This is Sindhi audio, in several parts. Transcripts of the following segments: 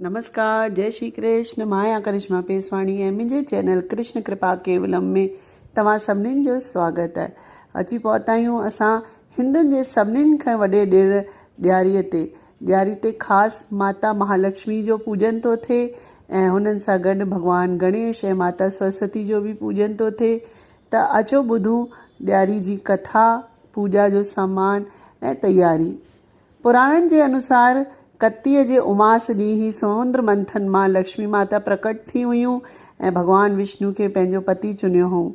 نمسڪار جئي شري ڪرشن مان آهيان ڪرشما پيسواڻي ۽ منهنجي چينل ڪرشن ڪرپا ڪيولم ۾ توهان سڀنين جو سواگت اچي پهتا آهيون اسان هندن جي سڀنين کان وڏي ڏير ڏياري تي ڏياري تي خاص ماتا مهالڪشمي جو پوڄن ٿو ٿئي ۽ هنن سان گڏ ڀڳوان گڻيش ۽ ماتا سرسوتي جو به پوڄن ٿو ٿئي ته اچو ٻڌون ڏياري جي ڪٿا پوڄا جو سامان ۽ تياري پراڻن جي انوسار ڪتيء جي اماس ڏينهن هي سمنڊ منٿن مان لڪشمي ماتا پرڪٽ ٿي هيون ۽ ڀڳوان وشنو کي پنهنجو پتي چنيو هئون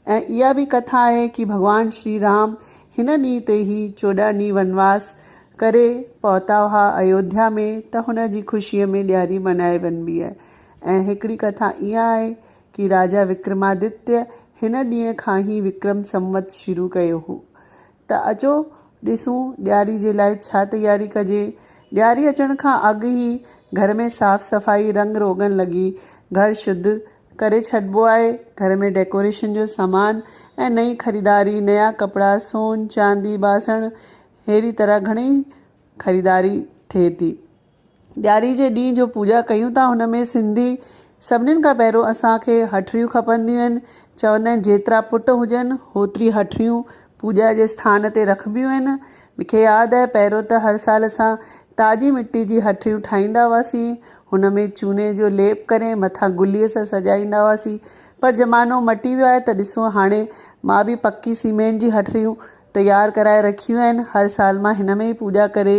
۽ اها به ڪٿا آهي ڪي ڀڳوان شري رام هن ڏينهن تي هي چوڏهن ڏينهن ونواس ڪري پهتا هئا ايوڌيا ۾ ته هن جي خوشيء ۾ ڏياري منائي وڃبي آهي ۽ هڪڙي ڪٿا اها آهي ڪي راجا وڪرمادتيه هن ڏينهن کان هي وڪرم سنوت شروع ڪيو هو ته اچو ڏسون ڏياري جي لاء ڇا تياري ڪجي. ڏياري اچڻ کان اڳ ئي گهر ۾ صاف صفائي رنگ روغن لڳي گهر شڌ ڪري ڇڏبو آهي. گهر ۾ ڊيڪوريشن جو سامان ۽ نئين خريداري، نيا ڪپڙا، سون، چاندي، باسڻ اهڙي طرح گهڻي خريداري ٿئي ٿي. ڏياري جي ڏينهن جو پوڄا ڪيون ٿا هن ۾ سنڌي سڀنين کان پهريون اسانکي هٺڙيون کپنديون آهن چوندا آهن جيترا پٽ هجن هوتري هٺڙيون پوڄا جي اسٿان تي رکبيون آهن مونکي ياد آهي پهريون ته هر سال اسان تازي مٽي جي هٺڙيون ٺاهيندا هئاسين هن ۾ چوني جو ليپ ڪري مٿان گلي سان سجائيندا هئاسين پر زمانو مٽي ويو آهي ته ڏسو هاڻي مان به پڪي سيمينٽ جي هٺڙيون تيار ڪرائي رکيون آهن هر سال مان هن ۾ ئي پوڄا ڪري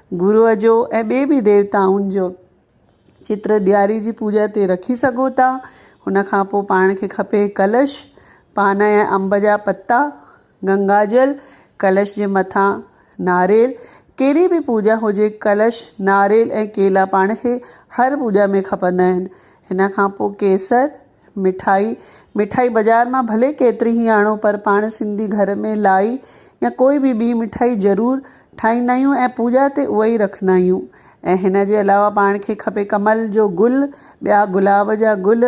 گروء جو ۽ ٻي به ديوتائن جو چتر ڏياري جي پوڄا تي رکي سگهو ٿا ان کان پوء پاڻ کي کپي ڪلش پان ۽ انب جا پتا گنگا جل ڪلش جي مٿان ناريل ڪهڙي به پوڄا هجي ڪلش ناريل ۽ ڪيلا پاڻ کي هر پوڄا ۾ کپندا آهن ان کان پوء ڪيسر مٺائي، مٺائي بازار مان ڀلي ڪيتري هي آڻو پر پاڻ سنڌي گهر ۾ لائي يا ڪوئي به ٻي مٺائي ضرور ٺاهيندا آهيون ۽ پوڄا تي اها ئي رکندا آهيون ۽ هن جي علاوه پاڻ کي کپي ڪمل جو گل، ٻيا گلاب جا گل،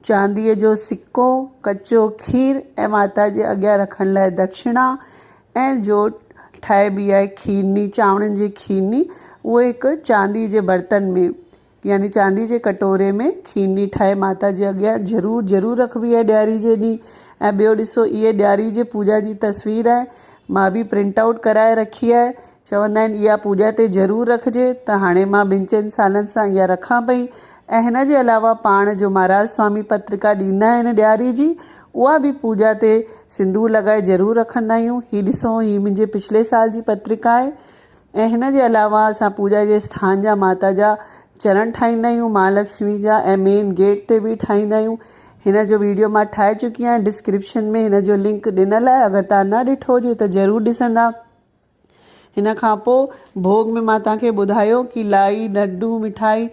چانديء جو سڪو، ڪچو کير ۽ ماتا جي اڳيان رکڻ لاء دکشڻا ۽ جو ٺاهبي آهي کيرني، چانورن جي کيرني، اهو هڪ چانديء جي برتن ۾. يعني چاندي جي ڪٽوري ۾ کيرني ٺاهي ماتا جي اڳيان ضرور ضرور رکبي آهي ڏياري جي ڏينهن ۽ ٻيو ڏسو اهي ڏياري جي پوڄا جي تصوير آهي مان به پرنٽ آوٽ ڪرائي رکي آهي چوندا آهن اها پوڄا تي ضرور رکجي ته هاڻي مان ٻن چئن سالن سان اها رکان پئي ۽ هن جي علاوه پاڻ جو مهاراج سوامي پترڪا ڏيندا آهن ڏياري جي اها به پوڄا تي سندور لڳائي ضرور رکندا آهيون هي ڏسو هي منهنجي پڇلي سال جي پترڪا آهي ۽ هن جي علاوه اسان پوڄا جي اسٿان جا ماتا جا چرڻ ٺاهيندا آهيون مها لڪشمي جا ۽ مين گيٽ تي به ٺاهيندا آهيون هن جو ويڊيو مان ٺاهي چڪي آهيان ڊسڪرپشن ۾ هن جو لنڪ ڏنل آهي اگر تان نه ڏٺو هجي ته ضرور ڏسندا هن کان پوء ڀوڳ ۾ مان تان کي ٻڌايو ڪي لائي لڊو مٺائي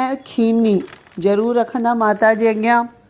۽ کيرني ضرور رکندا ماتا جي اڳيان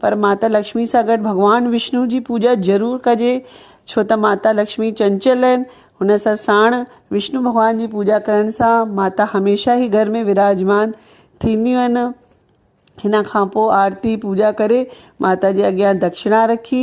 پر ماتا لڪشمي سان گڏ ڀڳوان وشنو جي پوڄا ضرور ڪجي ڇو ته ماتا لڪشمي چنچل آهن هن سان ساڻ وشنو ڀڳوان جي پوڄا ڪرڻ سان ماتا هميشه ئي گهر ۾ وراجمان ٿينديون آهن هن کان پوء آرتي پوڄا ڪري ماتا جي اڳيان دکشنا رکي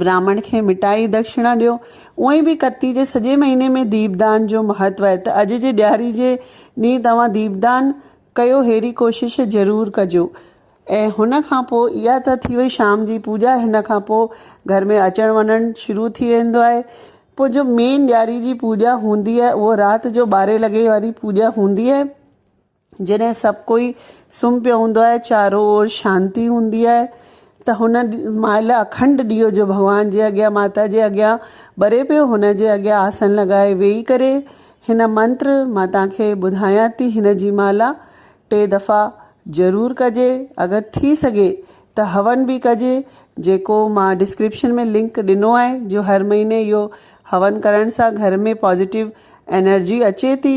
براهمڻ کي مٺائي دکشڻا ڏيو. اونئين به ڪتي جي سڄي مهيني ۾ ديپدان جو مهتو آهي ته اڄ جي ڏياري جي ڏينهن توهان ديپدان ڪيو ههڙي ڪوشش ضرور ڪجو ۽ هن کان پوء اها ته ٿي وئي شام جي پوڄا هن کان پوء گهر ۾ اچڻ وڃڻ شروع ٿي ويندو آهي پوء جو مين ڏياري جي پوڄا هوندي آهي اهو رات جو ٻارهين لڳي واري پوڄا هوندي آهي. جڏهن سڀ ڪوئي سمهه پيو هوندو آهي چارو اور شانتي هوندي آهي ته هن مهل اکنڊ ڏيئو جو ڀڳوان جي اڳيان ماتا جي اڳيان ٻري پيو هن جي اڳيان آسن لڳائي ويهي ڪري هن منتر مان توهان کي ٻڌايان ٿي هن جي مالا ٽي دفعا ضرور ڪجي اگر ٿي سگهي ته هون به ڪجي جيڪو مان ڊسڪرپشن ۾ لنڪ ڏنو آهي جو هر مهيني اهو هون ڪرڻ سان گهر ۾ پازيٽو انرجي اچي ٿي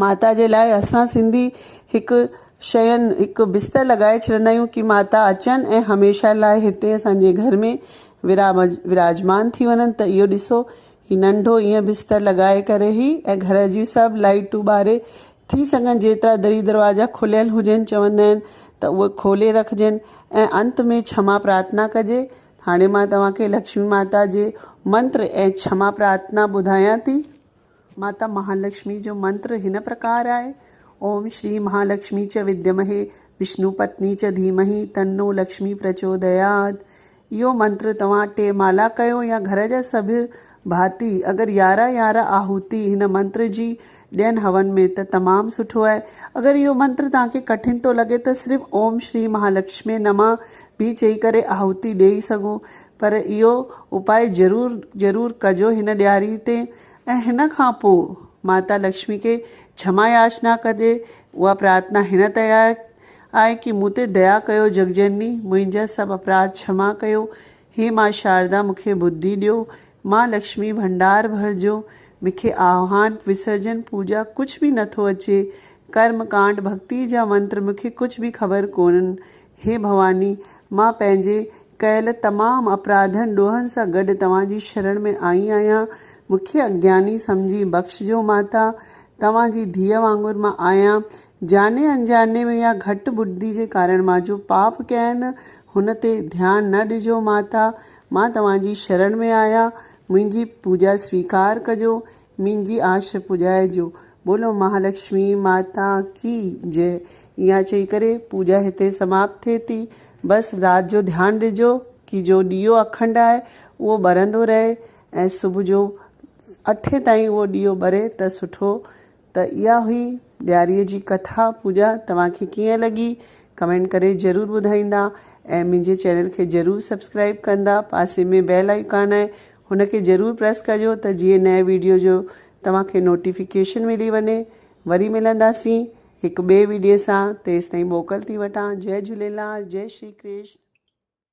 ماتا جي لاء اسان سنڌي هڪ شين هڪ بستر لڳائي ڇڏندا آهيون ڪي ماتا اچن ۽ هميشه لاء هتي اسانجي گهر ۾ ورام وراجمان ٿي وڃن ته اهو ڏسو هي ننڍو ايئن بستر لڳائي ڪري هي ۽ گهر جي سڀ لائٽون ٻاري ٿي سگهن جيترا دري دروازا کليل هجن چوندا آهن ته اهي کولي رکجن ۽ انت ۾ ڇما پرارٿنا ڪجي هاڻي مان توهان کي لڪشمي ماتا جي منتر ۽ ڇما پرارٿنا ٻڌايان ٿي ماتا مهالڪشمي جو منتر هن پرڪار آهي، اوم شري مهالڪشمي چ وديمهي وشنو پتني چ ڌيمهي تنو لڪشمي پرچوديات. اهو منتر توهان ٽي مالا ڪيو يا گهر جا سڀ ڀاتي اگر يارهن يارهن آهوتي هن منتر جي ڏين هون ۾ ته تمام سٺو آهي. اگر اهو منتر توهان کي ڪٺن ٿو لڳي ته صرف اوم شري مهالڪشمي نمه به چئي ڪري آهوتي ڏيئي سگهو. پر اهو اپاء ضرور ضرور ڪجو هن ڏياري تي ۽ هن کان پوء ماتا لڪشمي کي ڇما ياچنا ڪجي اها پرارٿنا هن تيار آهي ڪي مون تي ديا ڪيو جگ جنني منهنجا سڀ اپراڌ ڇما ڪيو هي ماء شاردا مون کي ٻڌي ڏيو ماء لڪشمي ڀنڊار ڀرجو مون کي آهوان وسرجن پوڄا ڪجهه به نٿو اچي ڪرم ڪانڊ ڀڳتي جا منتر مون کي ڪجهه به خبر ڪونهن هي ڀواني! مان پنهنجي ڪيل تمام اپراڌن ڏوهن سان گڏ توهان جي شرڻ ۾ آئي آهيان. مون کي اگياني سمجهي بخشجو ماتا. توهان جي ڌيء وانگر مان آهيان. جاني انجاني ۾ يا گهٽ ٻڌي جي ڪارڻ مان جو پاپ ڪيا آهن، هن تي ڌيان نه ڏجو ماتا. مان توهان جي شرڻ ۾ آهيان. منهنجي پوڄا سويڪار ڪجو. منهنجي آش پڄائجو. بولو مهالڪشمي ماتا ڪي جئه. اها چئي ڪري پوڄا هتي سماپت ٿئي ٿي. بس رات جو ڌيان ڏجو ڪي جو ڏيئو اکنڊ آهي اهو ٻرندو رهي ۽ صبح جو اٺين تائين اهو ڏيئو ٻري ته سٺو. ته اها هئي ڏياري جي ڪٿا پوڄا توهان کي ڪيئن لڳي ڪمينٽ ڪري ضرور ٻڌائيندا ۽ منهنجي چينل کي ضرور سبسڪرائب ڪندا پاسي ۾ بيل آئيڪان آهي هن کي ضرور پريس ڪجو ته جيئن نئين ويڊيو جو توهان کي نوٽيفڪيشن ملي وڃي وري ملنداسين هڪ ٻئي ويڊيو سان تيستائين موڪل ٿي وٺان جئي جهوليلال جئي شري ڪرشن.